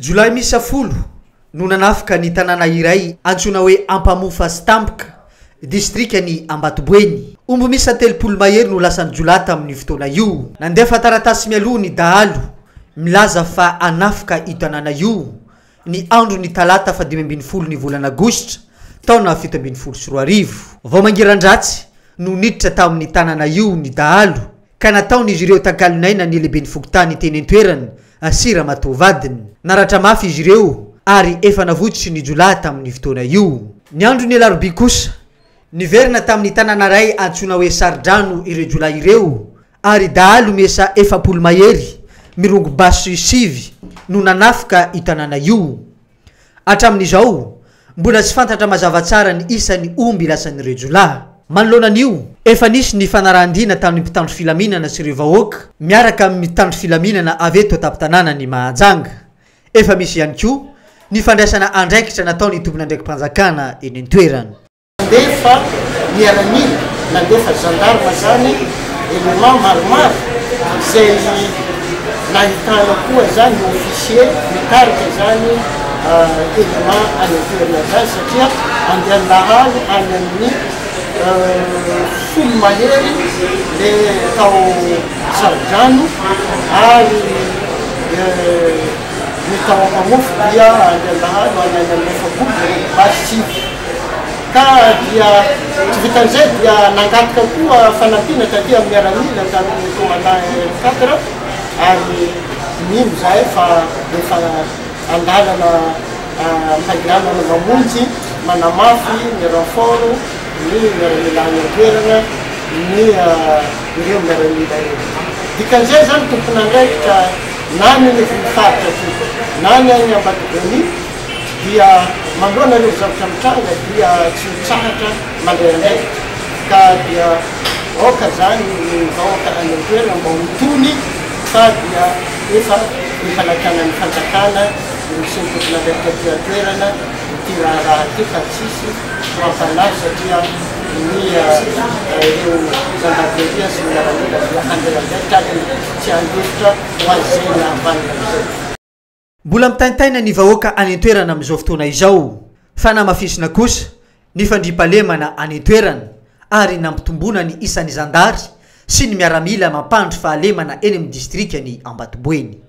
Jiolahy miisa folo no nanafika ny tanàna iray antsoina hoe Ampamofa sy Tampoka, distrikan'i Ambatoboeny. Omby miisa telopolo mahery no lasan'ny jiolahy tamin'io fotoana io. Nandefa taratasy mialoha ny dahalo milaza fa hanafika io tanàna io, ny andron'ny talata fahadimy ambin'ny folo ny volana aogositra, taona fito ambin'ny folo sy roa arivo. Vao mangiran-dratsy no niditra tamin'ny tanàna io ny dahalo. ka nataon'izy ireo takalon'aina ny lehiben'ny fokontany teny an-toerana sy ramatoa vadiny. Naratra mafy izy ireo ary efa navotsotra ny jiolahy tamin'io fotoana io. Ny andron'ny alarobia kosa, niverina tamin'ny tanàna iray antsoina hoe Saridrano ireo jiolahy ireo ary dahalo miisa efapolo mahery mirongo basy sivy no nanafika io tanàna io. Hatramin'izao, mbola tsy fantatra mazava tsara ny isan'ny omby lasan'ireo jiolahy. Manoloana an'io, efa nisy ny fanarahan-diana tamin'ny mpitandro filaminana sy ireo vahoaka miaraka amin'ny mpitandro filaminana avy eto an-tampon-tanànan'i Mahajanga. Efa misy ihany koa ny fandraisana andraikitra nataon'ny tompon'andraiki-panjakana eny an-toerana. Nandefa miaramila, nandefa gendarme izany élément maromaro izay nahitana koa izany officier mitarika izany élément any an-toerana izany satria andian-dahalo any amin'ny folo mahery ilay tao Sarodrano ary ny tao Ampamofo dia any an-dahalo ho any amin'ny efapolo mirefy basy Tsiby ka dia tsy vitan'izay dia nangataka koa fanampiana taty amin'ny miaramila tamin'ny commandant air cadre ary mino izahay fa efa an-dalana am-pandehanana mamonjy manamafy ny renfort ny miaramila any an-toerana ny ireo miaramila ireo. Dikan'izay izany tompon'andraikitra na ny any ivon'ny faritra aty na ny any Ambatodonia dia manoloana ireo zavatra mitranga dia tsy mitsahatra mandray andraikitra ka dia aoka izany ny vahoaka any an-toerana mba ho tony fa dia efa ny fanantanan'ny fanjakana no sy ny tompon'andraikitra aty an-toerana ity raharaha ity fa tsisy ho am-panahy satria ny ireo zandarimeria sy ny miaramila dia handray andraikitra aty. Tsy handositra ho azy izay ny havanana izay. Mbola mitaintaina ny vahoaka any an-toerana amin'izao fotoana izao, fa namafisina kosa ny fandriampahalemana any an-toerana ary nampitomboina ny isan'ny zandary sy ny miaramila mampandry fahalemana eny amin'ny distrikan'i Ambatoboeny.